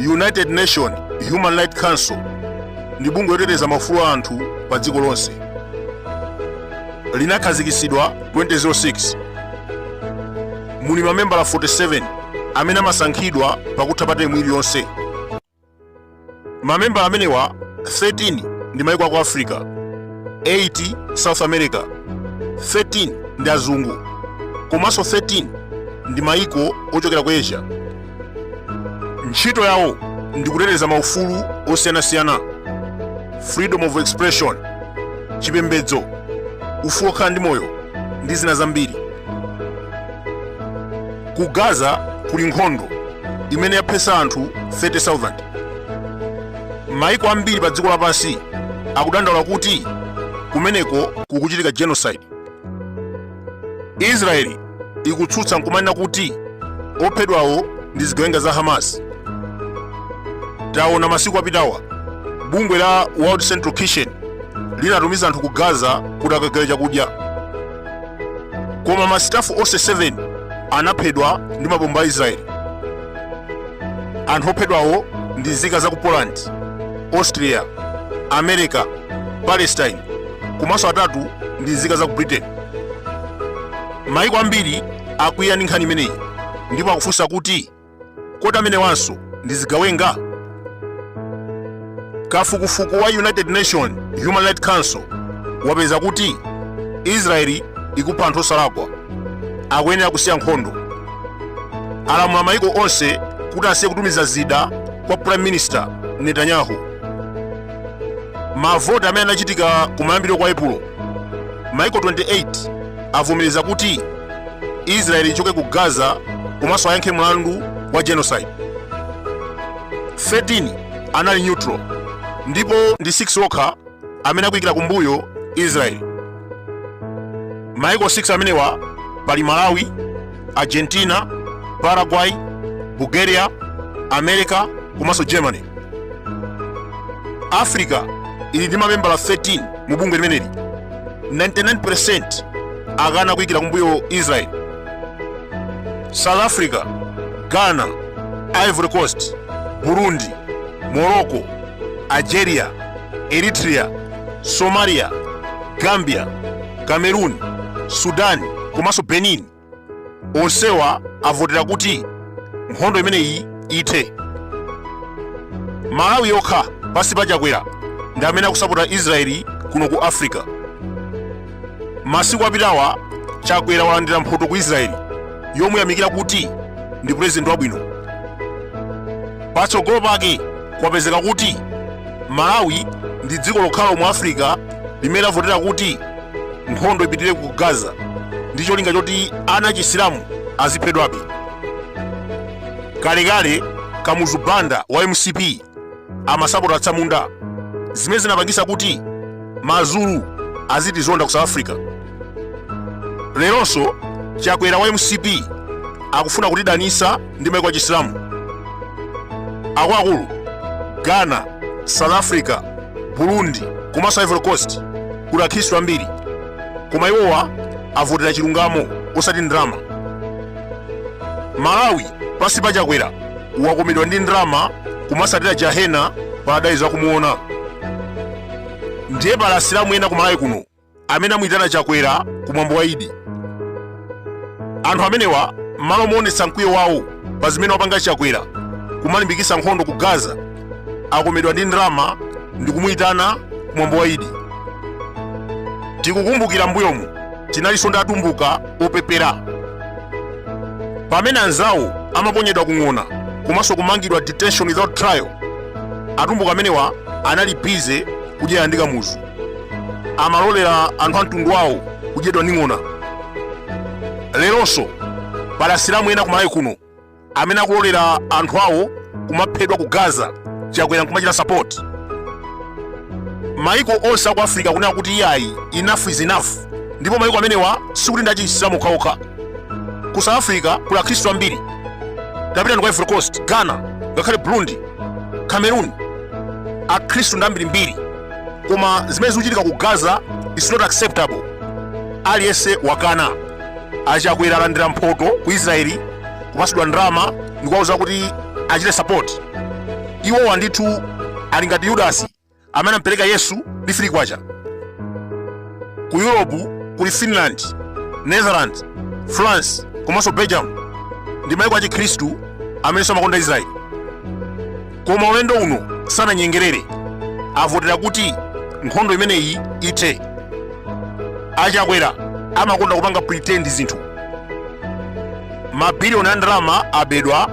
united nations human rights council ndi bungwe loteteza maufulu a anthu pa dziko lonse linakhazikitsidwa 2006 muli mamembala 47 amene amasankhidwa pakutha pa temu iliyonse. Mamembala amenewa 13 ndi maiko aku Africa, 8 South America, 13 ndi azungu komanso 13 ndi maiko ochokera ku Asia. Ntchito yawo ndi kuteteza maufulu osiyanasiyana, freedom of expression, chipembedzo, ufulu wokhala ndi moyo ndi zina zambiri. ku gaza kuli nkhondo imene yaphesa anthu 30,000 maiko ambiri pa dziko lapansi akudandaula kuti kumeneko kukuchitika genocide israeli ikutsutsa nkumanena kuti ophedwawo ndi zigawenga za hamas taona masiku apitawa bungwe la world central kitchen linatumiza anthu ku gaza kuti akagawe chakudya koma masitafu onse 7 anaphedwa ndi mabomba a israeli anthu ophedwawo ndi nzika za ku poland austria america palestine komanso atatu ndi nzika za ku britain maiko ambiri akwiya ndi nkhani imeneyi ndipo akufunsa kuti Kodi amenewanso ndi zigawenga? Kafukufuku wa United Nations Human Rights Council wapeza kuti Israeli ikupha anthu osalakwa, akuyenera kusiya nkhondo. Alamula mayiko onse kuti asiye kutumiza zida kwa Prime Minister Netanyahu. Mavoti amene anachitika kumayambiriro kwa Epulo, mayiko 28 avomereza kuti israeli ichoke ku gaza komanso ayankhe mlandu wa genocide 13 anali neutral ndipo ndi 6 okha amene akuyikira kumbuyo israeli maiko 6 amenewa pali malawi argentina paraguay bulgaria america komanso germany africa ili ndi mamembala 13 mu bungwe limeneli 99% akana kuyikira kumbuyo israel south africa ghana ivory coast burundi morocco algeria eritrea somalia gambia cameroon sudan komanso benin onsewa avotera kuti nkhondo imeneyi ithe malawi yokha pasi pa chakwera ndi amene akusapota israeli kuno ku africa masiku apitawa chakwera walandira mphoto ku israeli yomuyamikira kuti ndi pulezidenti wabwino patsogolo pake kwapezeka kuti malawi ndi dziko lokhalo mu africa limene lavotera kuti nkhondo ipitirire ku gaza ndi cholinga choti ana achisilamu aziphedwabe kalekale kamuzu banda wa mcp amasapota atsamunda zimene zinapangisa kuti mazulu azitizonda ku south africa leronso chakwera wa mcp akufuna kutidanisa ndi maiko achisilamu akuluakulu ghana south africa burundi komanso ivory coast kuli akhristu ambiri koma iwowa avotera chilungamo osati ndalama malawi pansi pa chakwera wakomedwa ndi ndalama kumatsatira jahena paradaizo akumuona ndiye pali asilamu ena ku malawi kuno amene amuyitana chakwera ku mwambo wa idi anthu amenewa m'malo moonetsa mkwiyo wawo pa zimene wapanga chakwera kumalimbikitsa nkhondo ku gaza akomedwa ndi ndalama ndi kumuyitana ku mwambo wa idi tikukumbukira mbuyomu tinalinso ndi atumbuka opepera pamene anzawo amaponyedwa ku ng'ona komanso kumangidwa detention without trial atumbuka amenewa anali bize kudyera ndi kamuzu amalolera anthu a mtundu wawo kudyedwa ndi ng'ona leronso pali asilamu ena ku malawi kuno amene akulolera anthu awo kumaphedwa ku gaza chakwera nkumachita sapoti maiko onse aku africa kunena kuti iyayi enough is enough ndipo maiko amenewa sikuti ndi achisilamu okhaokha ku south africa kuli akhristu ambiri tapitani ku ivory coast ghana ngakhale burundi cameroon akhristu ndi ambirimbiri koma zimene zikuchitika ku gaza this is not acceptable aliyense wakana achakwera alandira mphoto ku israeli kupatsidwa ndalama ndikuwauza kuti achite support iwowa ndithu ali ngati yudasi amene ampereka yesu ndi fili kwacha ku europe kuli finland netherlands france komanso belgium ndi maiko achikhristu amenenso amakonda israeli koma ulendo uno sananyengerere avotera kuti nkhondo imeneyi ithe achakwera amakonda kupanga pretend zinthu mabiliyoni a ndalama abedwa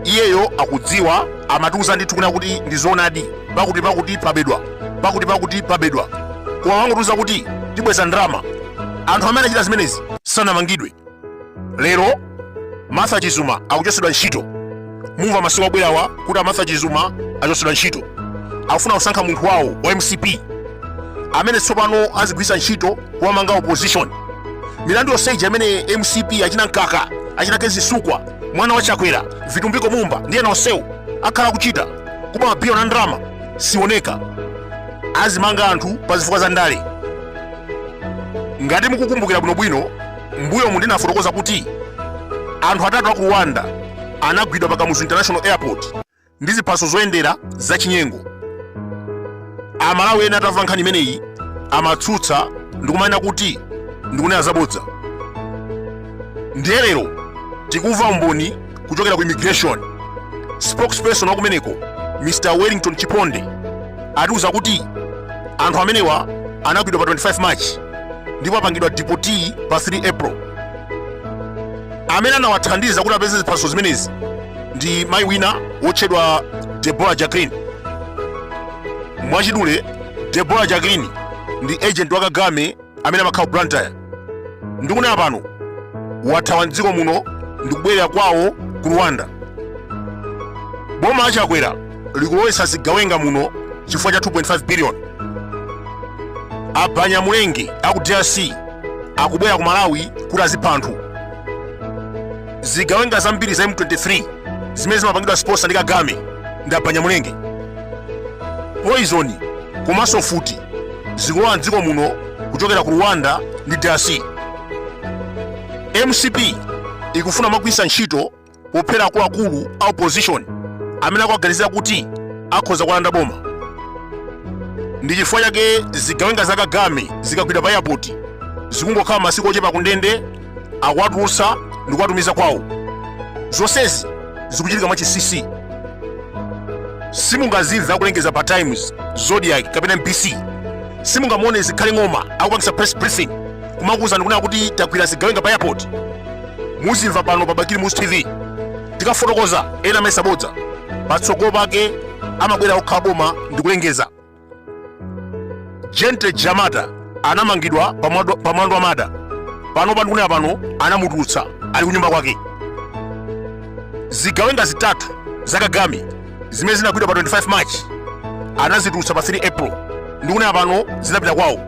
iyeyo akudziwa amatiuza ndithu kuna kuti ndi zoonadi pakuti pakuti pabedwa pakuti pakuti pabedwa koma amangotiuza kuti tibweza ndalama anthu amene achita zimenezi sanamangidwe lero martha chizuma akuchotsedwa ntchito mumva masiku abwerawa kuti amartha chizuma achotsedwa ntchito akufuna kusankha munthu wawo wa mcp amene tsopano azigwiritsa ntchito kuwamanga opposition milandu yonse ija imene mcp achina mkaka achina kezzie msukwa mwana wa chakwera vitumbiko mumba ndi ena onsewo akhala akuchita kuba mabiliyoni a ndalama sioneka azimanga anthu pa zifukwa za ndale ngati mukukumbukira bwinobwino M'mbuyomu ndinafotokoza kuti anthu atatu a ku Rwanda anagwidwa pa Kamuzu International Airport ndi ziphaso zoyendera zachinyengo. Amalawi ena atamva nkhani imeneyi amatsutsa ndi kumanena kuti ndikunena zabodza. Ndiye lero tikumva umboni kuchokera ku immigration spokesperson wa kumeneko mr wellington chiponde atiuza kuti anthu amenewa anagwidwa pa 25 march ndipo apangidwa deport pa 3 april amene anawathandiza kuti apeze ziphaso zimenezi ndi mayi wina wotchedwa debora jacklin mwachidule debora jacklin ndi agent wa kagame amene amakhala ku blantyre ndikunena pano wathawa mdziko muno ndikubwerera kwawo ku rwanda boma la chakwera likulowetsa zigawenga muno chifukwa cha 2.5 billion abanyamulenge aku drc akubwera ku malawi kuti azipha anthu zigawenga zambiri za m23 zimene zimapangidwa sponsor ndi kagame ndi abanyamulenge poizoni komanso mfuti zikulowa mdziko muno kuchokera ku rwanda ndi drc mcp ikufuna magwiritsa ntchito pophera akuluakulu a opposition amene akuwaganizira kuti akhoza kulanda boma ndi chifukwa chake zigawenga za kagame zikagwidwa pa airport zikungokhala masiku ochepa kundende akuwatulutsa ndi kuwatumiza kwawo zonsezi zikuchitika mwachisisi simungazimve akulengeza pa times zodiak kapena mbc simungamuone zikhale ng'oma akupangisa press briefing kumakuwuzani kunena kuti tagwira zigawenga pa airport muzimva pano pa bakili muluzi tv tikafotokoza ena amayesa bodza patsogolo pake amabwera okha aboma ndi kulengeza gentille giramata anamangidwa pa mlandu wa murder pano pandikunena pano anamutulutsa ali kunyumba kwake zigawenga zitatu za kagame zimene zinagwidwa pa 25 march anazitulutsa pa 3 april ndikunena pano zinapita kwawo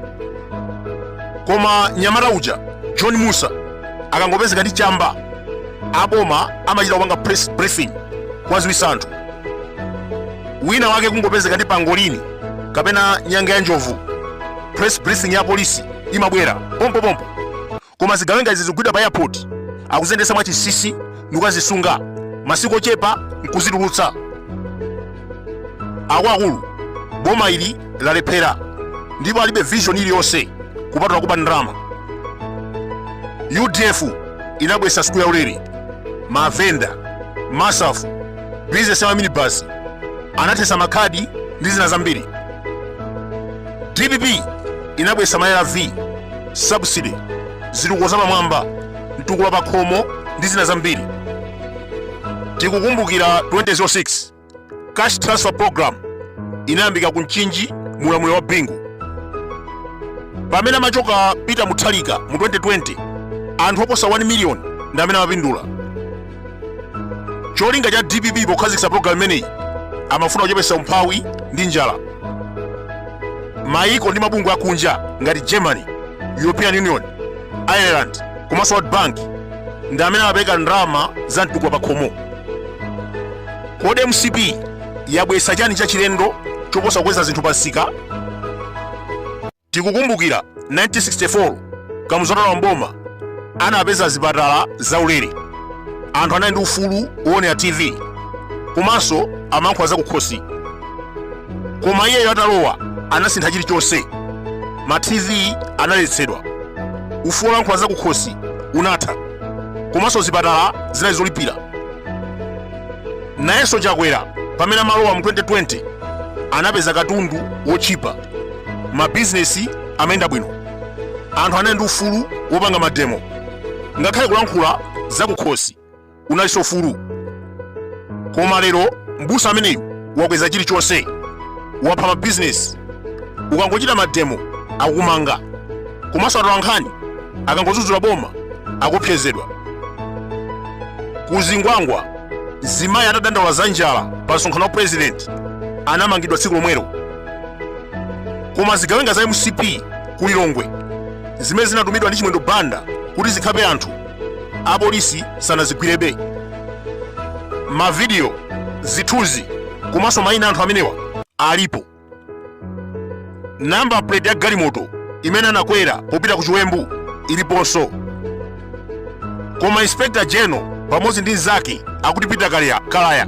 koma mnyamata uja john mussa akangopezeka ndi chamba aboma amachita kupanga press briefing kuwadziwitsa anthu wina wake kungopezeka ndi pangolini kapena nyanga ya njovu press briefing ya polisi imabwera pompopompo koma zigawenga izi zigwidwa pa airport akuziyendetsa mwachinsinsi ndikukazisunga masiku ochepa nkuzitulutsa akuluakulu boma ili lalephera ndipo alibe vision iliyonse kupatula kuba ndalama udf inabweretsa sukulu ya ulere mavenda masafu bizinesi ya maminibasi anathetsa makhadi ndi zina zambiri dpp inabweretsa ma arv subsidy zitukuko za pamwamba mtukula pa khomo ndi zina zambiri tikukumbukira 2006 cash transfer program inayambika ku mchinji mu ulamuliro wa bingu pamene amachoka peter mutharika mu 2020 anthu oposa 1 miliyoni ndi amene amapindula cholinga cha dpp pokhazikitsa pologalamu imeneyi amafuna kuchepetsa umphawi ndi njala maiko ndi mabungwe akunja ngati germany european union ireland komanso world bank ndi amene amapereka ndalama za mtukula pa khomo kodi mcp yabweretsa chani chachilendo choposa kukweza zinthu pa msika Tikukumbukira 1964 Kamuzu atalowa m'boma anapeza zipatala zaulere, anthu anali ndi ufulu woonera TV komanso amalankhula zakukhosi. Koma iyeyo atalowa anasintha chilichonse, ma TV analetsedwa, ufulu wolankhula zakukhosi unatha komanso zipatala zinali zolipira. Nayenso Chakwera pamene amalowa mu 2020 anapeza katundu wotchipa mabizinesi amayenda bwino anthu anali ndi ufulu wopanga mademo ngakhale kulankhula zakukhosi unalinso ufulu koma lero mbusa ameneyu wakweza chilichonse wapha mabizinesi ukangochita mademo akukumanga komanso atolankhani akangodzudzula boma akuopsezedwa ku zingwangwa zimayi atadandaula za njala pa msonkhano wa purezidenti anamangidwa tsiku lomwelo koma zigawenga za mcp ku lilongwe zimene zinatumidwa ndi chimwendo banda kuti zikhape anthu apolisi sanazigwirebe mavidiyo zithunzi komanso mayina a anthu amenewa alipo namba plate ya galimoto imene anakwera popita ku chiwembu iliponso koma inspector general pamodzi ndi mnzake akuti peter kalaya kalaya